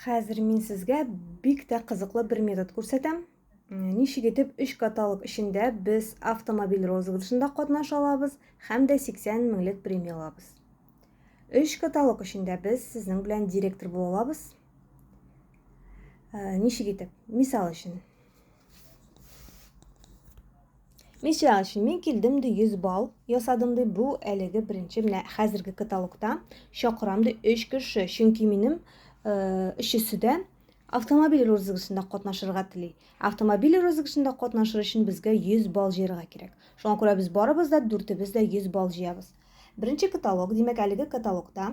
Хәзер мин сезгә бик тә кызыклы бер метод күрсәтәм. Ничек итеп 3 каталог эчендә без автомобиль розыгрышында катнаша алабыз һәм дә 80 меңлек премия алабыз. 3 каталог эчендә без сезнең белән директор була алабыз. Ничек итеп? Мисал өчен, Мисал өчен, мин килдем ди 100 балл ясадым ди, бу әлеге беренче менә хәзерге каталогта чакырам ди 3 кеше, чөнки минем э, өчесе дә автомобиль розыгрышында катнашырга тели. Автомобиль розыгрышында катнашыр өчен безгә 100 балл җыярга кирәк. Шуңа күрә без барыбыз да дүртебез дә 100 балл җыябыз. Беренче каталог, димәк, әлеге каталогта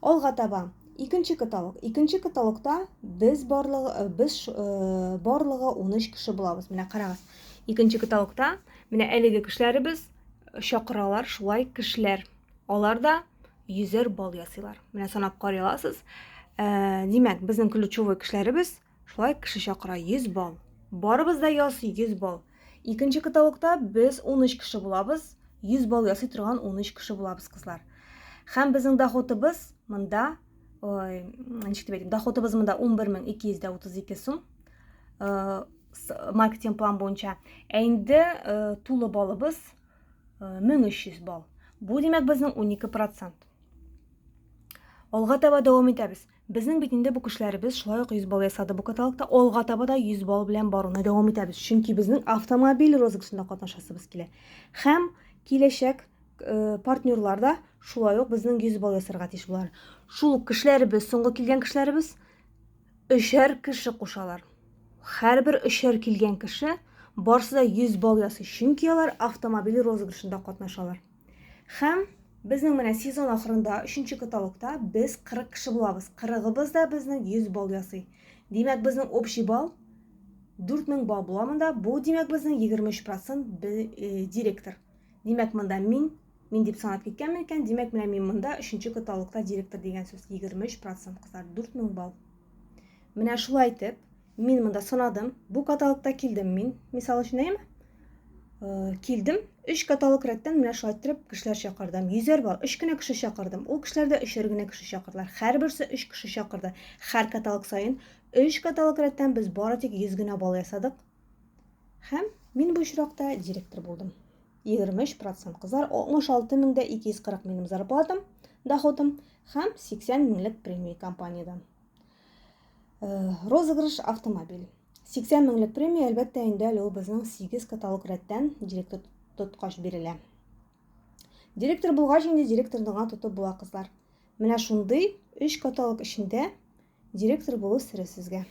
Алга таба икенче каталог. Икенче каталогта без барлыгы э, без э, барлыгы 13 кеше булабыз. Менә карагыз. Икенче каталогта менә әлеге кешеләребез чакыралар шулай кешеләр. Алар да йөзәр бал ясыйлар. Менә санап карый аласыз. Ә, э, димәк, безнең ключевой кешеләребез Шулай кеше чакыра 100 балл. Барыбыз да ясый 100 балл. Икенче каталогта без 13 кеше булабыз, 100 балл ясый торган 13 кеше булабыз, кызлар. Хәм безнең доходыбыз монда, ой, ничек дип әйтим, доходыбыз монда 11232 сум. Э, маркетинг план буенча. Ә инде э, тулы балыбыз 1300 э, балл. Бу димәк безнең 12%. Алга таба дәвам итәбез. Безнең бит инде бу кешеләребез шулай ук 100 балл ясады бу каталогта, алга таба да 100 балл белән баруны дәвам итәбез, чөнки безнең автомобиль розыгышында катнашасыбыз килә. Һәм киләчәк э, партнерлар да шулай ук безнең 100 балл ясарга тиеш булар. Шул ук кешеләребез, соңгы килгән кешеләребез өчәр кеше кушалар. Һәрбер өчәр килгән кеше барсы да 100 балл ясый, чөнки алар автомобиль розыгышында катнашалар. Хәм безнең менә сезон ахырында, өченче каталогта без 40 кеше булабыз. 40-ыбыз да безнең 100 балл ясый. Димәк, безнең общий балл 4000 балл була монда. Бу димәк безнең 23% э, директор. Димәк, монда мин, мин дип санап киткәнмен икән, димәк, менә мин монда өченче каталогта директор дигән сүз 23% кызлар, 4000 балл. Менә шулай итеп, Мин монда сынадым. Бу каталогта килдем мин. Мисал өчен әйеме? Э, килдем. Өч каталог рәттән менә шулай иттереп кешеләр чакырдым. Йөзәр бар. Өч кенә кеше чакырдым. Ул кешеләр дә өчәр генә кеше чакырдылар. Һәрберсе өч кеше чакырды. Һәр каталог саен өч каталог рәттән без бары тик 100 генә балл ясадык. Һәм мин бу очракта директор булдым. 23% кызлар 66240 минем зарплатам, доходым һәм 80 меңлек премия компаниядән. Э, розыгрыш автомобиль. 80 меңлек премия, әлбәттә, инде әле ул безнең 8 каталог рәттән директор тоткач бирелә. Директор булгач инде директорны гына тотып була, кызлар. Менә шундый 3 каталог эчендә директор булу сире сезгә.